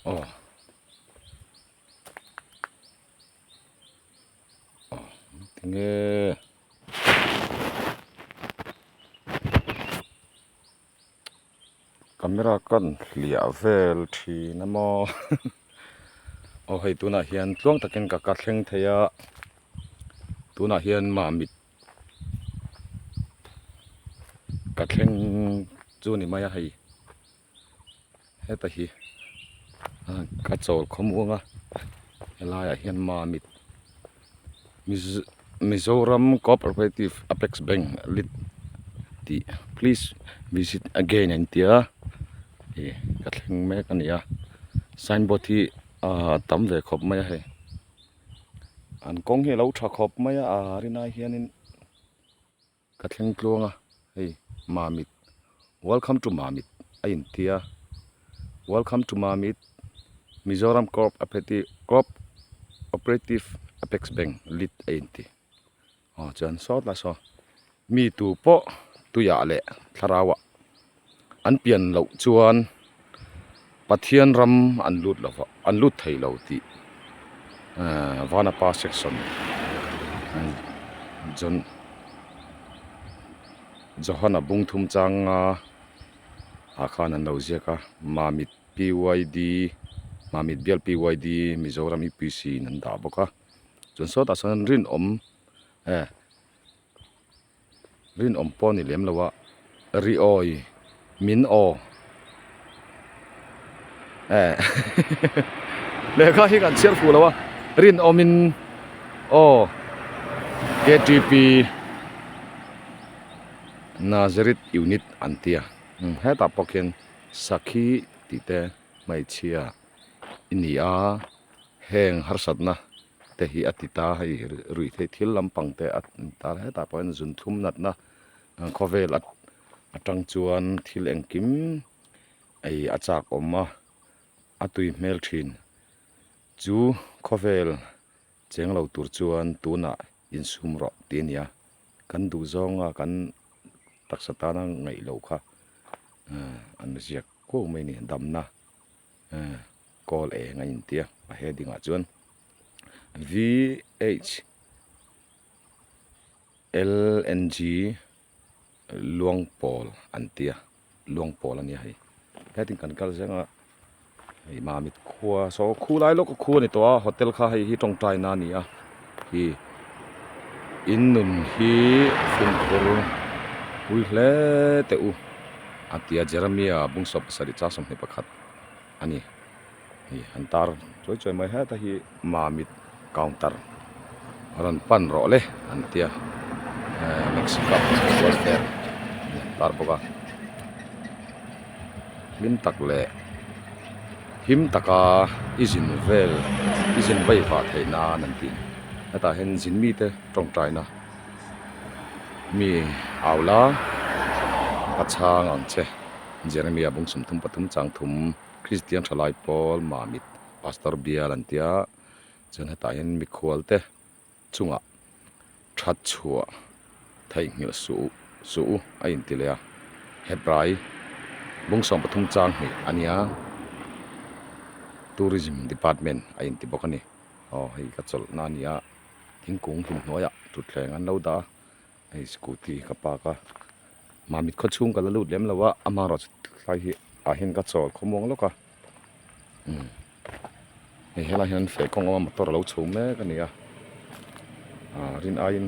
aw aw tinge camera kan hliah vel thin a maw aw hei tunah hian tluang takin ka ka thleng thei a tunah hian mah mit-- Ka thleng chu ni mai a hei heta hi ka chawl khawm uang a helai ah hian ma mit Mizoram cooperative apex bank lit tih please visit again a intia ih ka thleng mek a nia sign board hi a tam ve khawp mai a hei. an kawng hi a lo tha khawp mai a a rin ai hian in ka thleng tluang a hei mamit welcome to mamit a in tia welcome to mamit mizoram co-operative operative apex bank lit a in ti. Aw chuan saw ta saw mi tu pawh tuiah leh thlarauah an pian loh chuan Pathian ram an lut lo va an lut thei lo tih ehh Vanapa section John Johana bungthum changa ah khan an lo ziak a Mamit PYD Mamit bial PYD Mizoram UPC in an dah bawk a. chuan sawtah sawn rinawm eh rinawm pawh a ni lem lo a riawi min aw eh lehkha hi kan chhiar fuh lo a rinawmin aw ktp nazareth unit an tia hetah pawh khian sakhi tih te hmeichhia-- i ni a, heng harsatna te hi a ti ta hei ruihtheih thil lampang te a intâr hetah pawhin zun thlum natna khawvêl aṭang chuan thil engkim ei a châk awm a, a tui hmel ṭhin chu khawvêl. Cheng lo tur chuan tunah insum rawh tih a ni a, kan duh zawnga kan taksa tana ngaih loh kha an la ziak kuau mai a ni. Damna call eng a intia a heading ah chuan VHLNG. Luangpawl an tia, Luangpawl ania hei. Hetin kan kal zel a, hei Mamit khua saw khu lai lawk a khu a ni tawh a, hotel kha hei hi tawngtaina a ni a, hei hi in nun hi Funkhur pui hle teh u a tia Jeremia Bungsua Pasarih Chak Sawmhnih pakhat a ni. hei an tar chuai chuai mai het a hi mamit counter a rawn pan rawh le an tia ehh mexico football fan an rawn tar bawk a hlim tak leh him taka i zin vel i zin vaivah theih nan an tih hetah hian zin mite tawngtaina mi aula pachanga ang che jeremia bung sum thum pathum chang thum. Kristian thalai pawl mah mit pastor bial an tia chuan hetah hian mikhual te chungah tha chhuah theih nghilh suh suh u a inti leh a headrai Bungsawng pathum chang hnih a nia tourism department a inti bawk a ni aw hei ka chawlh na a nia thingkung hlim hnuaiah thutthleng an lo dah a. hei scooty ka park a mah mit khaw chhung ka la lut lem lo a amah erawh chu tlai hi ah hian ka chawl khawmuang lawk a umm hei helai hian feh kawng a motor a lo chhum mek a ni a ah rin aiin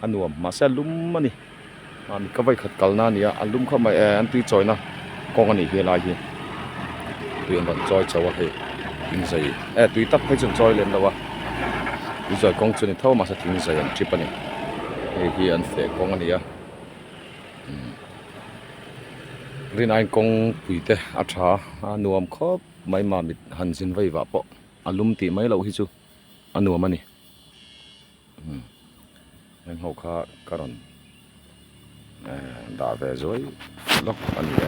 a nuam mahse a lum a ni mah mit ka vawi khat kalna a ni a a lum khawp mai e an tui chawina. Kawng a nih hi a lai hi tui an rawn chawi chauh a hei thing zai eh tui tak phei chu an chawi lem lo a tuizai kawng chu a ni tho mahse thing zai an tip a ni hei hi an feh kawng a ni a umm rinain kawng pui te a tha a nuam khawp mai mah mit han zin vaivah pawh a lum tih mai loh hi chu a nuam a ni. Umm heng ho kha ka rawn ehh dah ve zuai lawk a ni e.